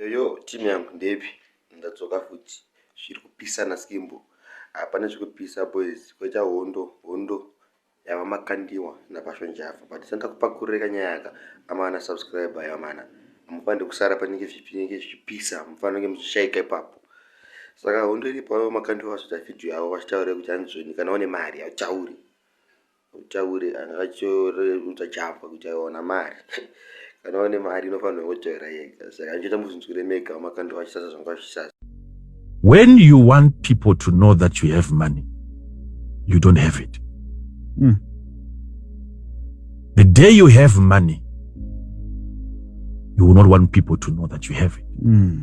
Yoyo team yangu ndepi ndadzoka futi zviri kupisa naskimbo hapana zvekupisa boys kwaita hondo hondo yava makandiwa napashonjava but sanda kupakureka nyaya ka amana subscriber yamana hamufanire kusara panenge zvinenge zvichipisa hamufanire muchishaika ipapo saka hondo iripo avo makandiwa vazoita video yavo vachitaure kuti hanzoni kana une mari hauchauri Utaure anga achiudza Java kuti aiwana mari kana waine mari inofanirwa kungotaura yega saka anotoita muzvinzwire mega vamakandwa vachisasa zvanga vachisasa When you want people to know that you have money you don't have it mm. the day you have money you will not want people to know that you have it mm.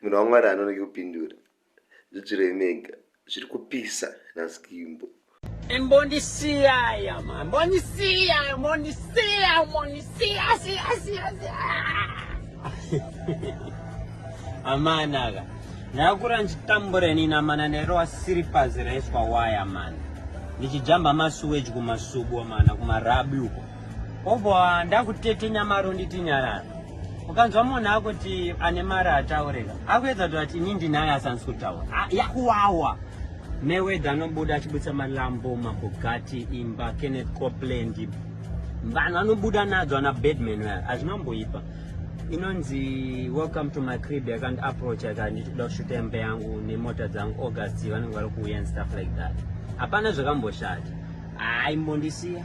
munhu wamwari anonoki kupindura zvidzirei mega zviri kupisa naskimbo imbondisiyaya ma mbondisiya mbondisiya mbondisiya siya siya siya amanaka ndakura ndichitambura inini amana ndairowa siripazi raiswa waya mana ndichijamba masuweji kumasubo mana kumarabi uko obva ndakutete nyamaro nditi nyarara ukanzwa munhu akuti ane mari ataureka akuedza kuti ati ini ndinayo asansi kutaura ah, yakuwawa mewedha anobuda achibudisa malambo mabugati imba kenneth copland vanhu anobuda nadzo ana bedman vaya hazvinamboipa inonzi welcome to my crib yakandi approach yakanditi kuda kushuta imba yangu nemota dzangu august vanenge vari kuuya and stuff like that hapana zvakamboshata haimbondisiya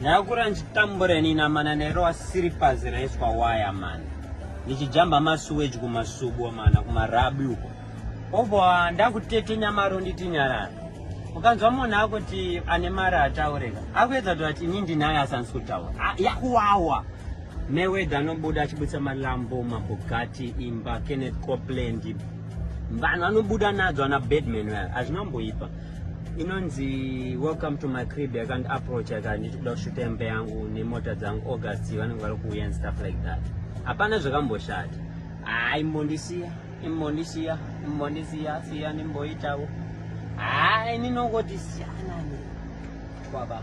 Ndakura ndichitambura ini namana nairowa siripasi raiswa waya mani ndichijamba masuweji kumasubo mana kumarabi uko obva ndakutete nyamaro nditi nyarara ukanzwa munhu akuti ane mari ataureka akuedza kuti ati ini ndinayo asanisi kutaura ah, yakuwawa mewedha anobuda achibudisa malambo mabugati imba kenneth copland vanhu vanobuda nadzo ana badman vaya hazvinamboipa inonzi welcome to my crib yakandi approach yakati ndichikuda kushuta imba yangu nemota dzangu august vanenge vari kuuya and stuff like that hapana zvakamboshata haa ah, imbondisiya imbondisiya imbondisiya siya ndimboitawo haa ah, ini nongoti siyanani kwaba